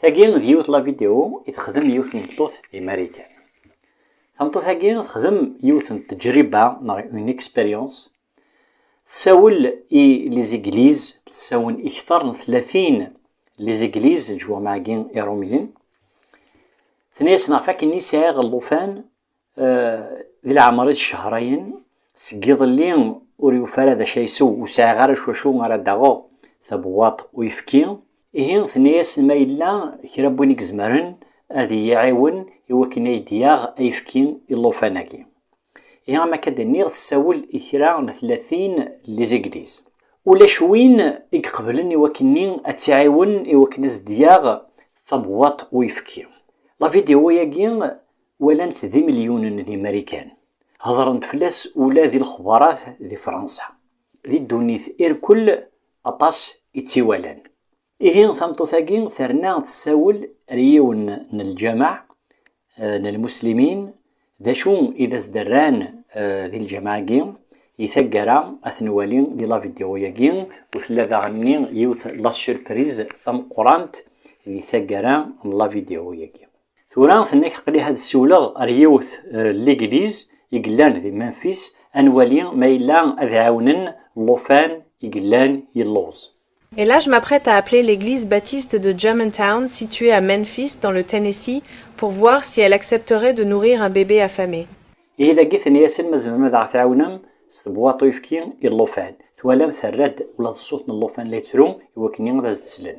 Tagi d yiwet la vidéo i texdem yiwet n tmeṭṭut di Marikan. Tameṭṭut-agi texdem yiwet n tejriba neɣ une expérience. Tessawel i les églises, tlesawen i kteṛ n tlatin les églises, leǧwameɛ-agi iṛumyen. Tenna-yasen ɣef wakken i sɛiɣ llufan Di leɛmer-is ccehṛayen, seg iḍelli ur yufi ara d acu ara isew, ur sɛiɣ ara s wacu ara d-aɣeɣ tabewwaṭ n uyefki. Ihi tenna-yasen ma yella kra n win i izemren ad iyi-iɛiwen i wakken ad iyi-d-yaɣ ayefki i llufan-agi. Ihi am akka d-nniɣ tessawel i kra n tlatin n lizigliz. Ulac win i iqeblen i wakken-nni ad tt-iɛiwen i wakken ad as-d-yaɣ tabewwaṭ n uyefki. Lavidyu-agi Walan-tt d imelyunen di Marikan. Hedren-d fell-as ula di lexbarat di Fransa. Di ddunit irkul aṭas i tt-iwalan. Ihi tameṭṭut-agi terna tessawel ar yiwen n lǧameɛ n lmuslimin d acu i d as-d-rran di lǧameɛ-agi. Di taggara ad ten-nwali di lavidyuw-agi u tella daɣenni yiwet lasurpriz tameqqurant di taggara n lavidyuw-agi. Tura tenna-k aql-i ad siwleɣ ar yiwet n ligliz i yellan di Memphis ad nwali ma yella ad ɛiwnen llufan i yellan yelluẓ. Et là je m'apprête à appeler l'église baptiste de Germantown située à Memphis dans le Tennessee pour voir si elle accepterait de nourrir un bébé affamé. Ihi dagi tenna-yasen ma tzemrem ad aɣ-tɛiwnem s tebwaḍt uyefki i llufan. Twalam terra-d ula d ṣṣut n llufan la yettru iwakken ad as-d-slen.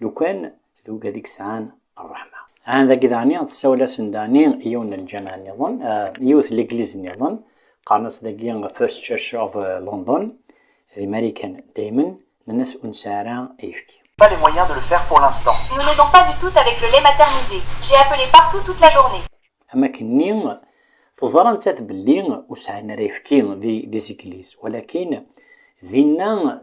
lukan d ugad i yesɛan ṛṛeḥma. Ɛan dagi daɣen tessawel-asen daɣen i yiwen n lǧameɛ nniḍen, yiwet n legliz nniḍen, qqaren-as dagi First Church of London, d Imarikan daymen, nnan-as ur nesɛi ara ayefki. Pas les moyens de le faire pour l'instant. Nous n'aidons pas du tout avec le lait maternisé. J'ai appelé partout toute la journée. Am akken-nni, teẓra nettat belli ur sɛin ara ayefki di Zigliz, walakin dinna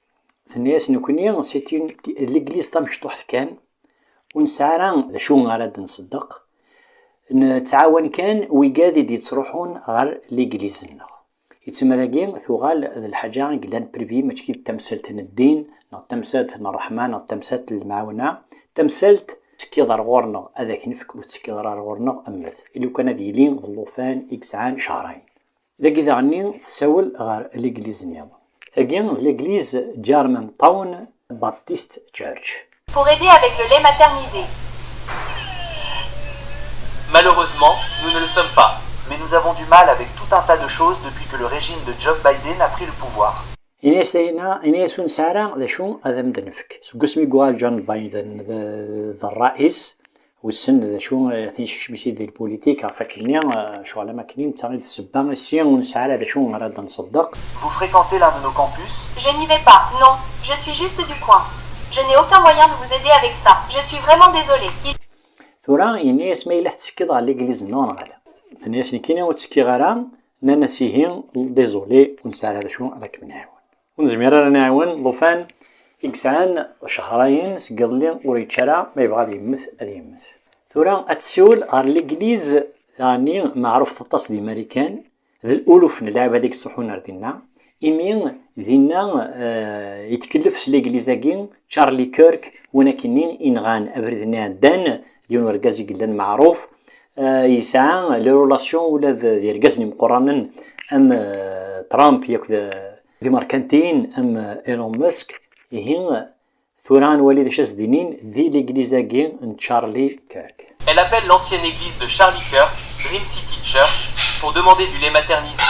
Tenna-yas, Nekkni c'est une l'église tamecṭuḥt kan, ur nesɛi ara d acu ara d-nṣeddeq, nettɛawan kan wigad i d-yettruḥun ɣer l'église-nneɣ. I tama dagi tuɣal d lḥaǧa i yellan privée mačči d tamsalt n ddin neɣ d tamsalt n ṛṛeḥma neɣ d tamsalt n lemɛawna, d tamsalt, tettekkiḍ ar ɣur-neɣ ad ak-nefk, ur tettekkiḍ ara ar ɣur-neɣ mmet, i lukan ad yili d llufan i yesɛan cehṛayen. Dagi daɣenni tessawel ɣer legliz niḍen. Tagi d legliz German Town Baptist Church. Pour aider avec le lait maternisé. Malheureusement, nous ne le sommes pas. Mais nous avons du mal avec tout un tas de choses depuis que le régime de Job Biden a pris le pouvoir. Ini-as tayna, ini-as ur nesɛi ara d acu ad am-d-nefk. Seg wasmi i yuɣal John Biden d rrais, Wissen d acu tincecmis i d lpulitik ɣef wakken-nni, acuɣer am wakken-nni, netta i d ssebba i si ur nesɛi ara d acu ara d-nṣeddeq. Vous fréquentez l'un de nos campus? Je n'y vais pas, non. Je suis juste du coin. Je n'ai aucun moyen de vous aider avec ça. Je suis vraiment désolé. Il. Tura, yenna-yas, Ma yella tettekkiḍ ɣer Legliz nneɣ neɣ ala? Tenna-yas, Nekkini ur ttekkiɣ ara. Nnan-as, Ihi, désolé, ur nesɛi ara d acu ara kem-nɛiwen. Ur nezmir ara nɛiwen llufan i yesɛan cehrayen seg iḍelli ur yečči ara, ma yebɣa ad yemmet ad yemmet. Tura ad tsiwel ɣer Legliz daɣenni meɛrufet aṭas di Marikan, d luluf n lɛibad i yettruḥun ar dinna, imi dinna yettkellef s Legliz-agi Charlie Kirk, win akkenni i yenɣan abrid-nni iɛeddan d yiwen urgaz i yellan meɛruf yesɛa le relation ula d irgazen imeqqranen am Trump yak d imerkantiyen am Elon Musk ihi tura ad nwali d acu ad s-d-inin di legliz-agi n Charlie Kirk. Elle appelle l'ancienne église de Charlie Kirk, Dream City Church, pour demander du lait maternisé.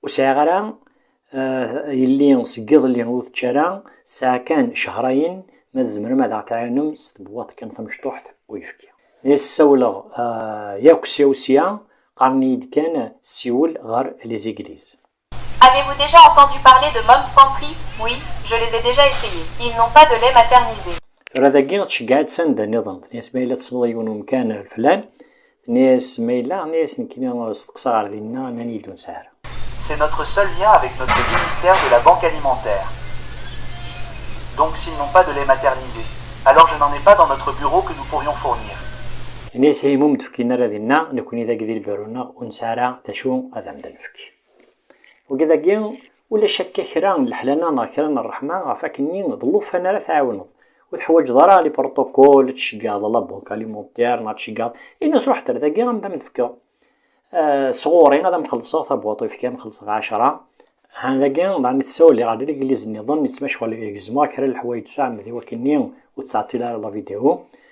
Ur sɛiɣ ara yelli seg iḍelli ur tečči ara, tesɛa kan cehrayen, ma tzemrem ad aɣ-tɛiwnem s tebwaḍt kan tamecṭuḥt n uyefki. Mi as-ssawleɣ yakk sya u sya, qqaren-iyi-d kan ssiwel ɣer les églises. Avez-vous déjà entendu parler de Mom's Pantry? Oui, je les ai déjà essayés. Ils n'ont pas de lait maternisé. Tura dagi tceggeɛ-itt s anda niḍen, tenna-yas ma yella tessneḍ yiwen umkan leflan, Tenna-yas Mayla, tenna-yas nekkni steqsa ɣer dinna, nnan-iyi-d ur nesɛi ara. C'est notre seul lien avec notre ministère de la banque alimentaire. Donc s'ils n'ont pas de lait maternisé, alors je n'en ai pas dans notre bureau que nous pourrions fournir. Yenna-yas Heymoum ur d-fkin ara dinna, nekkni dagi di lbiru-nneɣ ur nesɛi ara d acu ad am-d-nefk. Wagi dagi, ulac akka kra n leḥlana neɣ kra n rreḥma ɣef wakken-nni d llufan ara tɛiwneḍ. Ur teḥwaǧeḍ ara li protocol, ad tceggeɛḍ la banque alimentaire neɣ ad tceggeɛḍ. Ini-as ruḥ-d ar dagi am d am-d-fkeḍ s ɣur-i ad am-xellṣeɣ tabwaḍt ur ifki am-xellṣeɣ ɛecra. Ha dagi daɣen tessawel ɣer legliz-nniḍen yettmacɣel gezmeɣ kra n leḥwayeǧ s uɛemmed i wakken-nni ur ttɛeṭṭil ara la vidéo.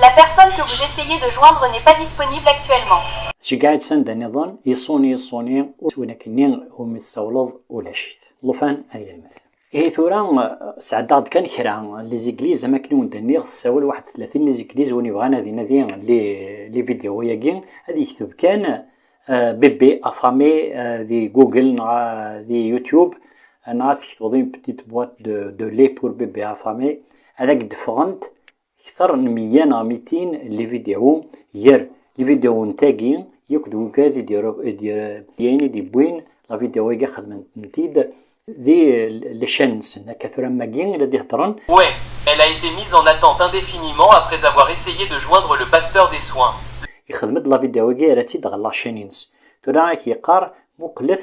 La personne que vous essayez de joindre n'est pas disponible actuellement. Tceggɛeḍ s anda niḍen, yeṣṣuni yeṣṣuni, ur s win akken-nni umi tsawleḍ ulac-it. Llufan ad yelmed. Ihi tura, sɛeddaɣ-d kan kra n lizigliz, am wakken i wen-d-nniɣ, tessawal waḥed d tlatin n lizigliz, win yebɣan ad inadi lividyuwo-agi, ad yekteb kan Bébé affamé di Google neɣ di Youtube, neɣ ad tketbeḍ Une petite boîte de lait pour bébé affamé, ad ak-d-ffɣent Kter n meyya neɣ mitin n livideo ger livideoen tagi yakk d wegad i d-yayen i d-yewwin lavideo agi xedmen-tent-id di lcan nsen akka tura am wagi i la d-iheddren. Ouais, elle a été mise en attente indéfiniment après avoir essayé de joindre le pasteur des soins. Yexdem-d lavideo agi yerra-tt-id ɣer lacan-ines. Tura ak-yeqqar muqlet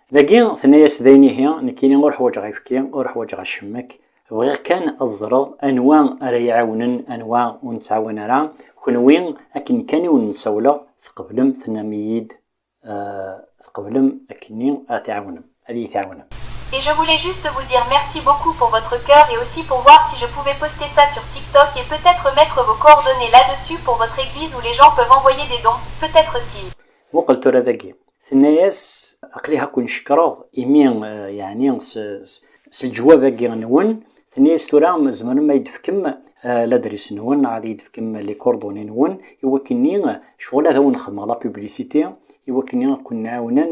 Dagi tenna-yas dayen ihi nekkini ur ḥwaǧeɣ ayefki, ur ḥwaǧeɣ acemmek, bɣiɣ kan ad ẓreɣ anwa ara yi-ɛiwnen anwa ur nettɛawan ara, kenwi akken kan i wen-n-sawleɣ tqeblem tennam-iyi-d tqeblem akkenni ad t-iɛawnem, ad iyi-t-iɛawnem. Et je voulais juste vous dire merci beaucoup pour votre cœur et aussi pour voir si je pouvais poster ça sur TikTok et peut être mettre vos coordonnées là dessus pour votre église où les gens peuvent envoyer des dons, peut être s'ils. Muqel tura dagi, Tenna-yas, Aql-i ha ken cekkreɣ imi, yeɛni s, s leǧwab-agi nwen. Tenna-yas, Tura tzemrem a yi-d-tefkem ladris nwen neɣ ad yi-d-tefkem les coordonnées nwen i wakken-nni ccɣel ad awen-xedmeɣ la publicité i wakken-nni a ken-ɛiwnen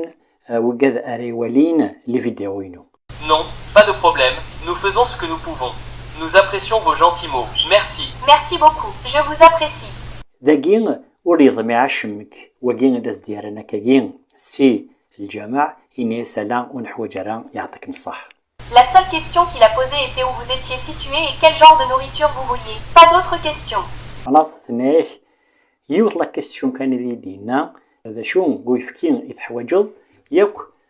wigad ara iwalin les vidéos-inu. Non, pas de problème, nous faisons ce que nous pouvons. Nous apprécions vos gentils mots. Merci. Merci beaucoup. Je vous apprécie. dagi ur yeḍmi acemmek wagi ad as-d-yerran akkagi si lǧameɛ ini-as ala ur neḥwaǧ ara yeɛṭikem ṣṣeḥ La seule question qu'il a posée était où vous étiez situé et quel genre de nourriture vous vouliez. Pas d'autres questions. Anaɣ tenna-ak yiwet la question kan ideg d-yenna d acu n uyefki i teḥwaǧeḍ yakk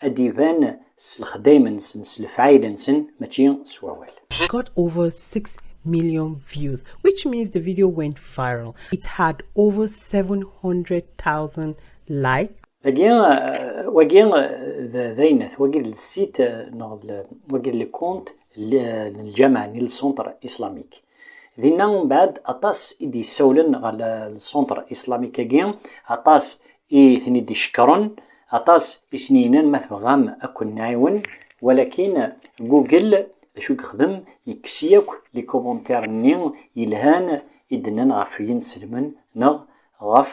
ad d-iban s lexdayem-nsen, s lefɛayel-nsen, mačči s wawal. It got over 6 million views, which means the video went viral. It had over 700,000 likes. Dagi, wagi d ayennat, wagi d lsit, neɣ wagi d lkunt n lǧameɛ, n lcentre islamique. Dinna umbeɛd aṭas i d-yessawlen ɣer lsuntr islamik-agi, aṭas i ten-id-icekkren, aṭas i sen-yennan ma tebɣam ad ken-nɛiwen, walakin Google d acu i yexdem, yekkes yakk likubuntaren-nni yelhan i d-nnan ɣef Yinselmen neɣ ɣef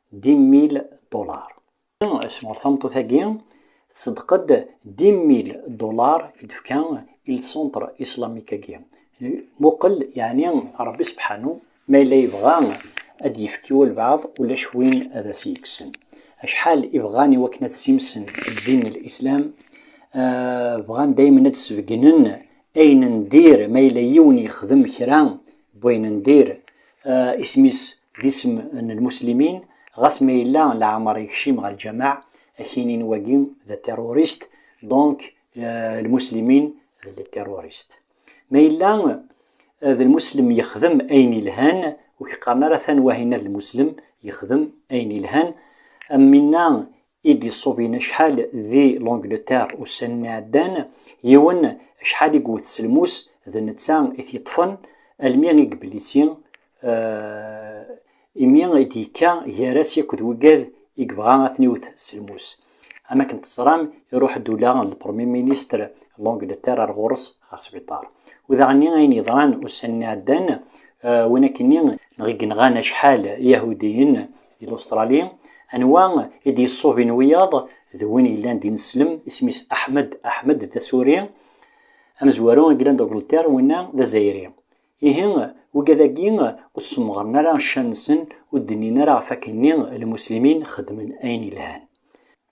dix mille dollars. Sɣur tameṭṭut-agi, tṣeddeq-d dix mille dollars i d-tefka i lcentre islamique-agi. Muqel yeɛni Rebbi sebḥanu ma yella yebɣa ad d-yefk i walbeɛḍ ulac win ad as-yekksen. Acḥal i bɣan i wakken ad ssimsen ddin n Lislam, bɣan daymen ad d-sbeggnen ayen n dir, ma yella yiwen yexdem kra n wayen n dir, Isem-is d isem n lmuslimin, ɣas ma yella leɛmer yekcim ɣer lǧameɛ, akini n wagi d aterrorist, donc lmuslimin d les terroristes. Ma yella d lmuslem yexdem ayen yelhan, ur k-qqaren ara atan wahi-nna d lmuslem yexdem ayen yelhan, am winna i d-iṣubin acḥal di L'Angleterre ussan-nni iɛeddan, yiwen acḥal i yewwet s lmus d netta i t-yeṭṭfen almi i yeblissi, imi i d-yekka gar-as yakk d wiggad i yebɣa a ten-iwwet s lmus. Am akken teẓram, iruḥ-d ula d Lepremye Ministre n L'Angleterre ar ɣur-s ɣer sbiṭar. U daɣenni ayen yeḍran ussan-nni iɛeddan, win akkenni, neɣ i yenɣan acḥal Iyahudiyen Di Lustṛali, anwa i d-yeṣṣubin wiyaḍ d win yellan d ineslem, isem-is Ahmed Ahmed, d asuri, amezwaru i yellan d Agleṭṭir, winna d azayri. Ihi, wigad-agi ur ssemɣren ara ccan-nsen, ur d-nnin ara ɣef wakken-nni lmuslimin xedmen ayen yelhan.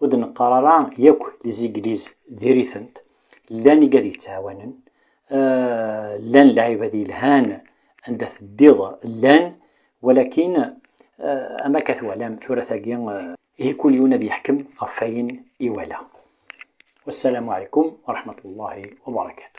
Ur d-neqqar ara yakk Izigliz diri-tent, llan igad yettɛawanen, llan lɛibad yelhan anda teddiḍ llan, walakin am akka twalam tura tagi, ihi kul yiwen ad yeḥkem ɣef wayen iwala. Wassalamu ɛlaykum wa raḥmatullahi wa barakatuh.